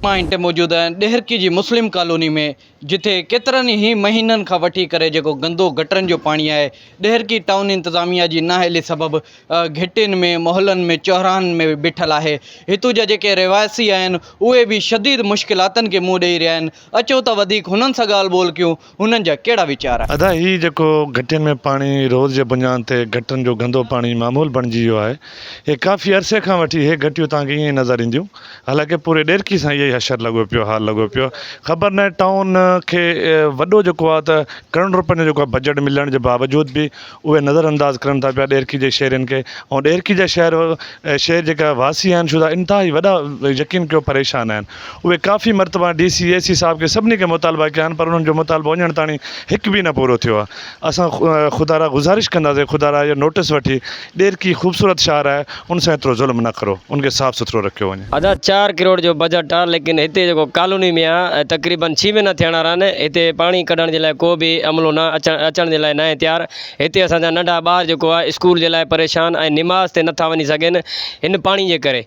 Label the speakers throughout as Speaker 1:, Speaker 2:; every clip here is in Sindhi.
Speaker 1: مائن تي موجود ڏهرڪي جي مسلم ڪالوني ۾ جتي ڪيترن ئي مهينن کان وٺي ڪري جيڪو گندو گٽرن جو پاڻي آهي ڏهرڪي ٽائون انتظاميا جي نااهلي سبب گهٽين ۾ محلن ۾ چوراهن ۾ بيٺل آهي هتو جا جيڪي رهواسي آهن اهي به شديد مشڪلاتن کي منهن ڏئي رهيا آهن اچو ته وڌيڪ هنن سان ڳالهه ٻولهه ڪيون انهن جا ڪهڙا ويچار آهن؟ ادا هي جيڪو
Speaker 2: گهٽين ۾ پاڻي روز جي بنيان تي گٽرن جو گندو پاڻي معمول بڻجي ويو آهي اهي ڪافي عرصي کان وٺي اهي گهٽيون توهان کي ائين ئي نظر اينديون حالانڪه پوري ڏيرڪي سان اهي ئي حشر لڳو پيو حال لڳو پيو خبر ناهي ٽائون کي وڏو جيڪو آهي ته ڪروڙن روپين جو جيڪو آهي بجيٽ ملڻ جي باوجود به اهي نظر انداز ڪرن ٿا پيا ڏيرڪي جي شهرين کي ۽ ڏيرڪي جا شهر شهر جيڪا واسي آهن شودا انتهائي وڏا يقين ڪيو پريشان آهن اهي ڪافي مرتبا ڊي سي اي سي صاحب کي سڀني کي مطالبا ڪيا آهن پر انهن جو مطالبو اڃڻ تاڻي هڪ به نه پورو ٿيو آهي اسان خدارا گذارش ڪنداسين خدارا اهو نوٽس وٺي ڏيرڪي خوبصورت شهر آهي ان سان ايترو ظلم نه ڪرو ان کي صاف سٿرو رکيو وڃي. ادا چار ڪروڙ جو
Speaker 3: بجيٽ آ ليڪن هتي جيڪو ڪالوني ۾ آ تقريبن ڇهه مهينا ٿيڻ وارا آهن هتي پاڻي ڪڍڻ جي لاء ڪو به عملو نه اچڻ اچڻ جي لاء ناهي تيار هتي اسان جا ننڍا ٻار جيڪو آ اسڪول جي لاء پريشان ۽ نماز تي نٿا وڃي سگهن هن پاڻي جي ڪري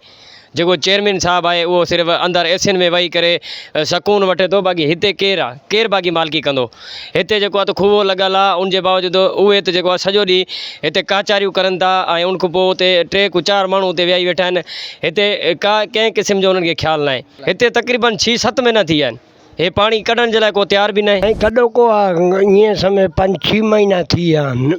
Speaker 3: جيڪو چيئرمين صاحب آهي اهو صرف اندر ايسين ۾ وهي ڪري سڪون وٺي ٿو باقي هتي ڪير آ ڪير باقي مالڪي ڪندو. هتي جيڪو آ ته کوهه لڳل آ ان جي باوجود اهي ته جيڪو آ سڄو ڏينهن هتي ڪاچاريون ڪرن ٿا ۽ ان کان پوء اتي ٽي کان چار ماڻهو اتي ويهي ويٺا آهن هتي ڪا ڪنهن قسم جو انهن کي خيال ناهي هتي تقريبن ڇهه ست مهينا ٿي ويا آهن هي پاڻي ڪڍڻ جي لاء ڪو تيار به ناهي. ۽ ڪڏو ڪو آ ائين
Speaker 4: سمجهه پنج ڇهه مهينا ٿي ويا آهن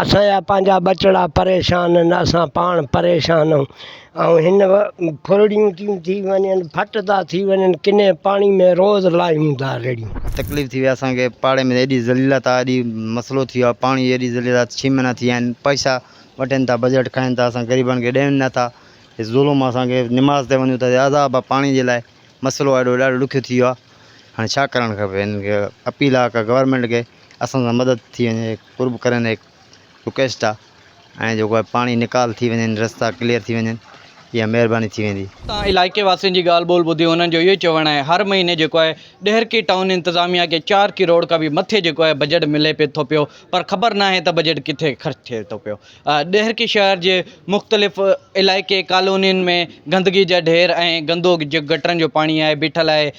Speaker 4: اسان جا پنهنجا ٻچڙا پريشان آهن اسان پاڻ پريشان آهيون ۽ هن ڦرڙيون تيون ٿي وڃن ڦٽ ٿا ٿي وڃن ڪني پاڻي ۾ روز لاهيون ٿا رڙيون تڪليف ٿي وئي اسان کي
Speaker 5: پاڙي ۾ ايڏي ذليلت آهي ايڏي مسئلو ٿي ويو آهي پاڻي ايڏي ذليلت آهي ڇهه مهينا ٿي ويا آهن پئسا وٺن ٿا بجيٽ کائن ٿا اسان غريبن کي ڏين نٿا ظلم اسان کي نماز تي وڃون ته عذاب آهي پاڻي جي لاء مسئلو ايڏو ڏاڍو ڏکيو ٿي ويو آهي هاڻي ڇا ڪرڻ کپي هنن کي اپيل آ ڪا گورمينٽ کي اسان سان مدد ٿي وڃي قرب ڪرين هڪ رڪويسٽ آ ۽ جيڪو آ پاڻي نيڪال ٿي وڃن رستا ڪليئر ٿي وڃن اها مهرباني ٿي ويندي. اتان علائقي واسين جي
Speaker 1: ڳالهه ٻولهه ٻڌي هنن جو اهو ئي چوڻ آهي هر مهيني جيڪو آهي ڏهرڪي ٽائون انتظاميا کي چار ڪروڙ کان به مٿي جيڪو آهي بجيٽ ملي پي ٿو پيو پر خبر ناهي ته بجيٽ ڪٿي خرچ ٿئي ٿو پيو ڏهرڪي شهر جي مختلف علائقي ڪالونين ۾ گندگي جا ڍير ۽ گندو جيڪو گٽرن جو پاڻي آهي بيٺل آهي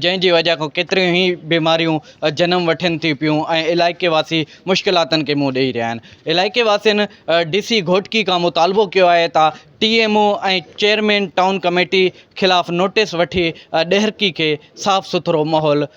Speaker 1: جنهن جي وجهه کان ڪيتريون ئي بيماريون جنم وٺن ٿي پيون ۽ علائقي واسي مشڪلاتن کي منهن ڏئي رهيا آهن علائقي واسين ڊي سي گهوٽڪي کان مطالبو ڪيو آهي ته T M O ۽ chairman town committee خلاف نوٽيس وٺي ڏهرڪي کي صاف سٿرو ماحول